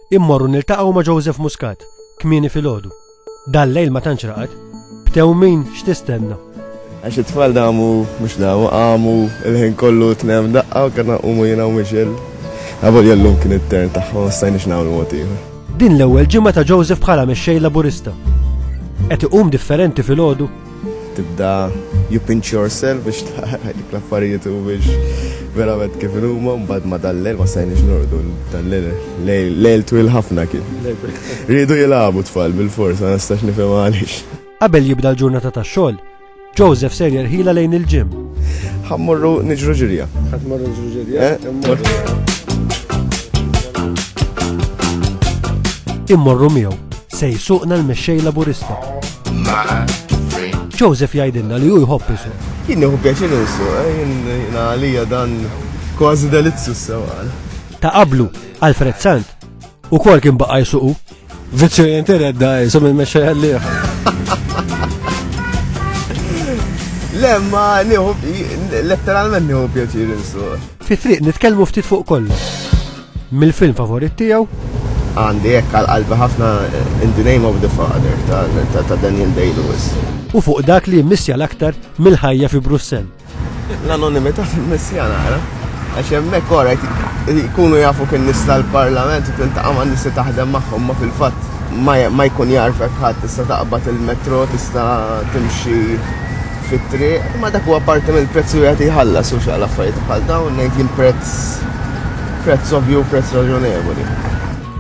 Immorru niltaqgħu ma' Joseph Muscat, kmieni filgħodu. Dal-lejl ma tantx raqad, btew min x'tistenna. Għax it-tfal damu mhux damu qamu il-ħin kollu tnem daqqa u kellna qumu jiena u Michel. Għabol jellum kien it-tern tagħhom stajniex nagħmlu mod ieħor. Din l-ewwel ġimgħa ta' Joseph bħala mexxej laburista. Qed iqum differenti filgħodu Tibda you pinch yourself biex tara jekk l-affarijiet humiex verament kif inhuma, mbagħad ma' dal-lejl ma stajniex norqdu, dal-lejl lejl twil ħafna kien. Riedu jilagħbu t-tfal bilfors, ma nistax nifhem għaliex. Qabel jibda l-ġurnata tax-xogħol, Joseph ser jerħilha lejn il-gym. Ħa mmorru niġru ġirja. Ħa mmorru niġru ġirja. Immorru miegħu Se jsuqna l-mexxej Laburista. Joseph jgħidilna li hu jħobb isu. Jien nieħu pjaċir insu, eh, jien għalija dan kważi delizzu s-sewqan. Ta' qablu, Alfred Sant, u kol kien baqa jsuqu. Vizzju jintired da, jisom il-mexxej għalliħ. Lemma, nieħu, letteralment nieħu pjaċir insu. Fi triq nitkellmu ftit fuq kollu. Mill-film favorit tiegħu. Għandi hekk għal qalbi ħafna In the Name of the Father ta' Daniel Day-Lewis. U fuq dak li jimmissja l-aktar mill-ħajja fi Brussell. L-anonimità timmissja naqra, għax hemmhekk orajt jkunu jafu kien nies tal-Parlament u tiltaqa' ma' nies li taħdem magħhom ma fil-fatt ma jkun jarfek ħadd tista' taqbad il-metro, tista' timxi fit-triq. Imma dak huwa parti mill-prezz li wieħed jħallas u x'għal affarijiet bħal dawn ngħid jien prezz prezz ovvju u prezz raġonevoli.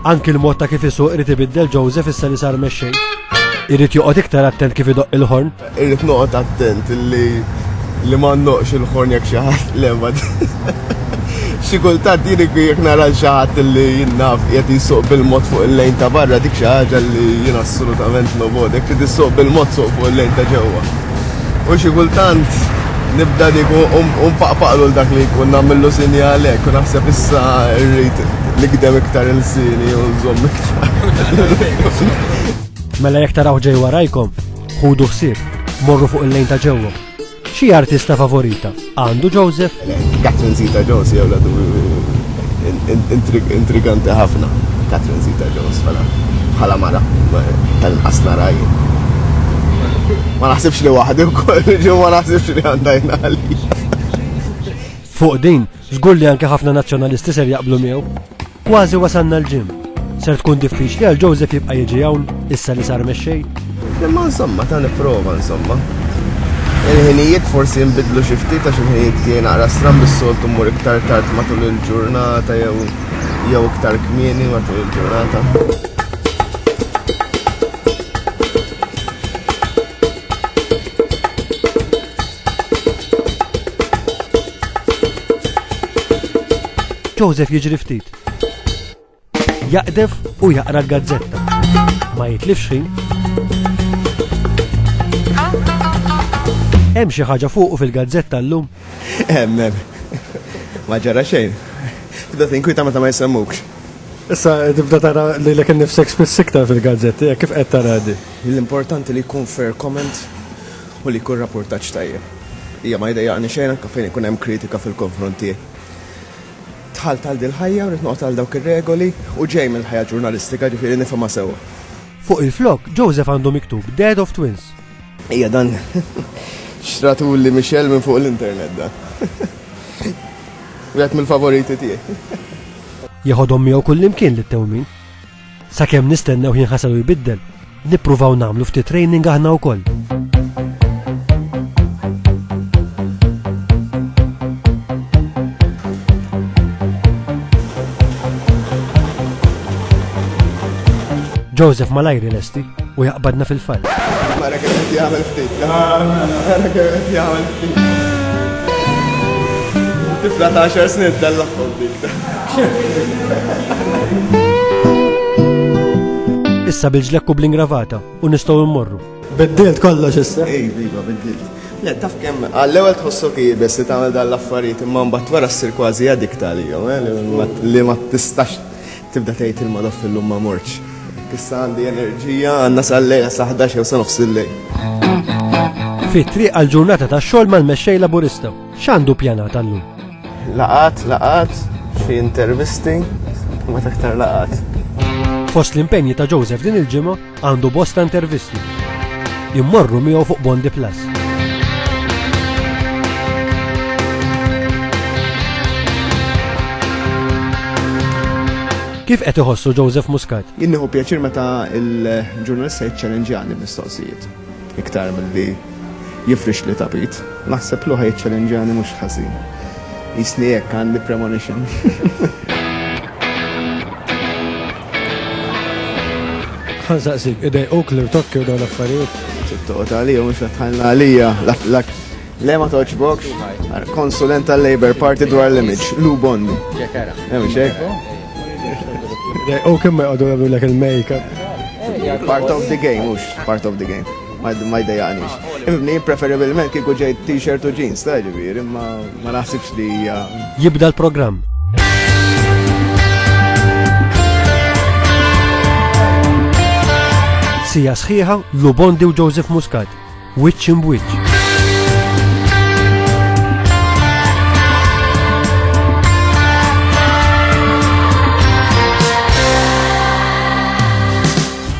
Anki l-mod ta' kif isuq irid ibiddel Joseph issa li sar mexxej. Irid joqgħod iktar attent kif idoqq il-ħorn. Irrid noqgħod attent li li ma ndoqqx il-ħorn jekk xi ħadd le ma Xi kultant jien jekk nara l xi ħadd li jien naf qiegħed jsuq bil-mod fuq il-lejn ta' barra dik xi ħaġa li jien assolutament nobgħod, jekk trid issuq bil-mod suq fuq il-lejn ta' ġewwa. U xi kultant nibda dik u u npaqpaqlu 'l dak li jkun nagħmillu sinjal hekk u naħseb issa rrid nigdem iktar ilsieni u nżomm iktar. Mela jekk tarawh ġej warajkom, ħudu ħsieb, morru fuq il-lejn ta' ġewwa. Xi artista favorita għandu Joseph? Catherine Zeta Jones hija wladu intriganti ħafna. Catherine Zeta Jones bħala bħala mara tal-inqas nara jien. Ma naħsibx li waħdi wkoll, ġew ma naħsibx li għandha jingħali. Fuq din, żgur li anke ħafna Nazzjonalisti ser jaqblu miegħu. Kważi wasalna l-gym. Ser tkun diffiċli għal Joseph jibqa' jiġi hawn issa li sar mexxej. Imma insomma ta' nipprova insomma. Il-ħinijiet forsi jinbidlu xi ftit għax il-ħinijiet tiegħi naqra stram bis-soltu mmur iktar tard matul il-ġurnata jew jew iktar kmieni matul il-ġurnata. Joseph jiġri ftit. Jaqdef u jaqra l-gazzetta. Ma jitlifx ħin. Hemm xi ħaġa fuqu fil-gazzetta llum? Hemm hemm. Ma ġara xejn. Tibda tinkwita meta ma jsemmukx. Issa tibda tara li l-ek nifsek spiss iktar fil-gazzetti, kif qed tara di? L-importanti li jkun fair comment u li jkun rappurtaġġ tajjeb. Hija ma jdejjaqni xejn anke fejn ikun hemm kritika fil-konfront tiegħi. Dħalt għal dil-ħajja u rrid noqgħod għal dawk ir-regoli u ġej mill-ħajja ġurnalistika ġifieri nifhimha sewwa. Fuq il-flokk, Joseph għandu miktub Dad of Twins. Hija dan xtratuli Michelle minn fuq l-internet dan. Wieħed mill-favoriti tiegħi. Jeħodhom miegħu kullimkien lit-tewmin. Sakemm nistennew ħin ħasad u jbiddel, nippruvaw nagħmlu ftit training aħna wkoll. Joseph malajri lesti u jaqbadna fil-fall. Mara kif qed jagħmel ftit. Mara kif qed jagħmel ftit. Tifla ta' xar snin dal-laqgħu Issa bil-ġlekku bl-ingravata u nistgħu mmorru. Biddilt kollox issa. Ej, viva, biddilt. Le, taf kemm għall-ewwel tħossok ibes li tagħmel dan l-affarijiet imma mbagħad wara ssir kważi addikta għalihom, eh, li ma tistax tibda tgħid il-modof fil-lum ma morċ. Issa għandi enerġija għandna sal-lejla sa 11 jew sa nofs il-lejl. Fit-triq għal ġurnata tax-xogħol mal-mexxej laburista. X'għandu pjanat għallum? Laqat, laqat, xi intervisti, ma taktar laqat. Fost l-impenji ta' Joseph din il-ġimgħa għandu bosta intervisti. Immorru miegħu fuq Bondi Plus. Kif qed iħossu Joseph Muscat? Jinniħu pjaċir meta il-ġurnalista jiċċellenġjani mistoqsijiet. Iktar milli jifrixli tapit, naħseb li hu ħa jiċċalenġjani mhux ħażin. Qisni hekk għandi premonition. Ħa nsaqsik, idejquk l-irtokki u dawn l-affarijiet? Trid toqgħod għalija mhux qed tħallna għalija. Le ma toċbokx. Konsulent tal-Labour Party dwar l-image, Lou Bondi. Ġekara. Hemm xejn. U kemm ma jqogħdu jagħmlu lek il-makeup. Part of the game, mhux part of the game. Ma jdejaqniex. Ibni preferibilment kieku ġejt t-shirt u jeans, ta' ġifieri, ma naħsibx li hija. Jibda l-programm. Sija sħiħa, Lubondi u Joseph Muscat Wiċċ imb'wiċċ.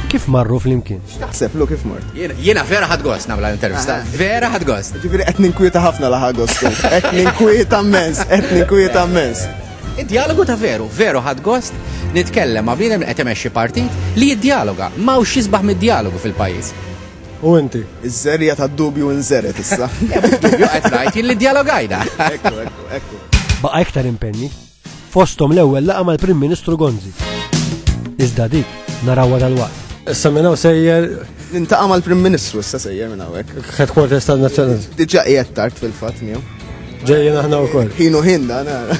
Kif marru flimkien? Taħseb lu kif mort? Jiena vera ħad gost nagħmel intervista. Ah. Vera ħad gost. Ġifieri qed ninkwieta ħafna laħa gostu. Qed ninkwieta mens, qed ninkwieta mens. Id-dialogu ta' veru, veru ħad gost nitkellem ma' bniedem qed imexxi partit li jiddialoga. M'hawnx xisbaħ mid-dialogu fil-pajjiż. U inti? Iż-żerriegħa tad-dubju inżergħet issa. Le mhux dubju qed ngħid jien li djalogajna. Ekku, ekku, ekku. Baqa' iktar impenji, fosthom l-ewwel laqgħa mal-Prim Ministru Gonzi. Iżda dik narawha dalwaqt. Issa minn hawn sejjer Nintaqa' mal-Prim Ministru issa sejjer minn hawnhekk. headquarters tal-Nazzjonal. Diġà qiegħed tard fil-fatt miegħu. Ġejjin aħna wkoll. Ħinu ħinna nara.